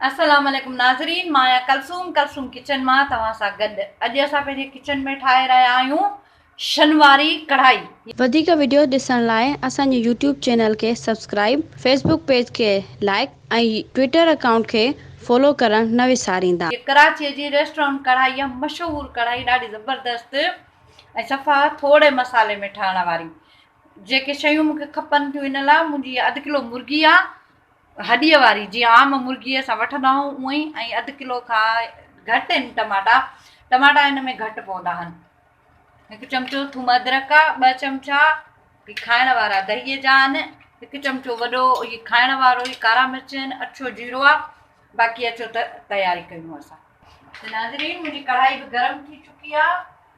السلام عليڪم ناظرين مان آهيان ڪلثوم ڪلثوم ڪچن مان توهان سان گڏ اڄ اسان پنهنجي ڪچن ۾ ٺاهي رهيا آهيون شن واري ڪڙهائي. وڌيڪ وڊيوز ڏسڻ لاء اسان جي يوٽيوب چينل کي سبسڪرائيب فيسبوڪ پيج کي لائيڪ ۽ ٽوئيٽر اڪائونٽ کي فالو ڪرڻ نه وساريندا. هيء ڪراچيء جي ريسٽورنٽ ڪڙهائي آهي مشهور ڪڙهائي ڏاڍي زبردست ۽ صفا ٿورڙي مصالحي ۾ ٺهڻ واري جيڪي شيون مونکي کپن ٿيون ان لاء منهنجي اڌ ڪلو مرغي آهي هڏيء واري جيئن عام مرغيء سان وٺندا آهيون اونئي ۽ اڌ ڪلو کان گهٽ ان ٽماٽا ٽماٽا ان ۾ گهٽ پوندا آهن هڪ چمچو ٿوم ادرڪ آ ٻه چمچا کائڻ وارا دهيء جا آهن هڪ چمچو وڏو هي کائڻ وارو هي ڪارا مرچ آهن اڇو جيرو آ باقي اچو ته تياري ڪيون اسان ناظرين منهنجي ڪڙهائي به گرم ٿي چڪي آ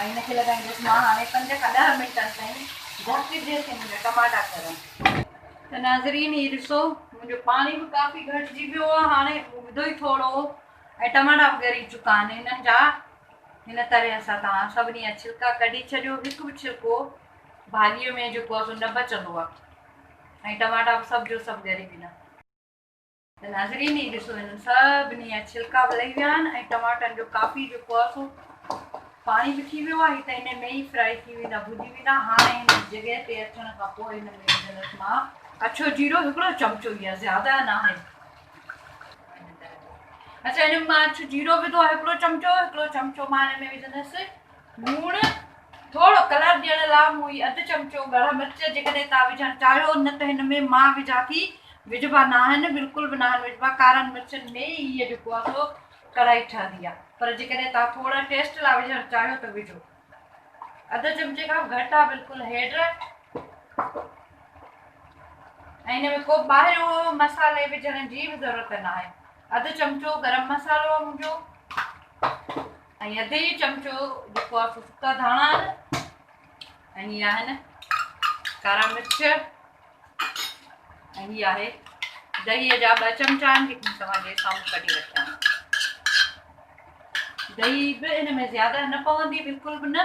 ۽ ان کي لڳائيندس مان هاڻي پنج کان ڏهه منٽن تائين ڍڪ جي سم ۾ ٽماٽا ڪرڻ. ته ناظرين هي ڏسو منهنجو پاڻي به ڪافي گهٽجي ويو آهي هاڻي اگهدو ئي ٿورو هو ۽ ٽماٽا به ڳري چڪا آهن هنن جا هن طرح سان توهان سڀني جا ڇلڪا ڪڍي ڇڏيو هڪ به ڇلڪو ڀاڄي ۾ جيڪو آهي سو نه بچندو آهي ۽ ٽماٽا به سڀ جو سڀ ڳري ويندا. ته ناظرين هي ڏسو هنن سڀني جا ڇلڪا به لهي ويا آهن ۽ ٽماٽن جو ڪافي جيڪو آهي سو پاڻي به ٿي ويو آهي هي ته هن ۾ ئي فرائي ٿي ويندا ڀڄي ويندا هاڻي هن جڳهه تي اچڻ کان پوء هن ۾ وجهندس مان اڇو جيرو هڪڙو چمچو يا زياده ناهي اچا هن مان اڇو جيرو وڌو آهي هڪڙو چمچو هڪڙو چمچو مان هن ۾ وجهندس لوڻ، ٿورو ڪلر ڏيڻ لاء مون هي اڌ چمچو ڳڙا مرچ جيڪڏهن توهان وجهڻ چاهيو نه ته هن ۾ مان وجهان ٿي وجهبا ناهن بلڪل به ناهن وجهبا ڪارن مرچن ۾ ئي هي جيڪو آهي سو ڪڙائي ٺهندي آهي پر جيڪڏهن توهان ٿورا ٽيسٽ لاء وجهڻ چاهيو ته وجهو اڌ چمچي کان گهٽ آهي بلڪل هيڊ ۽ هن ۾ ڪو ٻاهريو مصالحي وجهڻ جي به ضرورت ناهي اڌ چمچو گرم مصالحو منهنجو ۽ اڌي چمچو جيڪو آهي سو سڪا ڌاڻا آهن ۽ هي آهن ڪارا مرچ ۽ هي آهي دهي جا ٻه چمچا آهن جيڪي توهان جي سامهون ڪڍي رکيا آهن دهي به ان ۾ زياده نه پوندي بلڪل به نه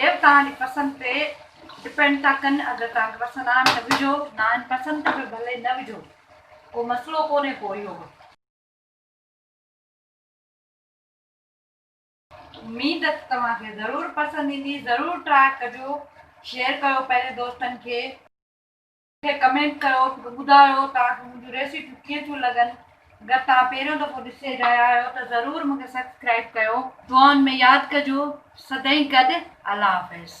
يير توهان جي پسند تي ڊپينڊ ٿا ڪن اگر توهان کي پسند آهن ته وجهو ناهن پسند ته پوء ڀلي نه وجهو ڪو مسئلو ڪونهي پوء اهو به. اميد ته توهان کي ضرور پسند ايندي ضرور ٽراء ڪجو شيئر ڪيو پنهنجي دوستن کي. کي ڪمينٽ ڪيو ته ٻڌايو توهان کي منهنجون ريسيپيون ڪيئن ٿيون لڳن اگر توهان پهريون دفعو ڏسي رهيا آهيو ته ضرور مون کي سبسڪرائيب ڪيو. دعائن ۾ ياد ڪجو سدائين گڏ الله حافظ.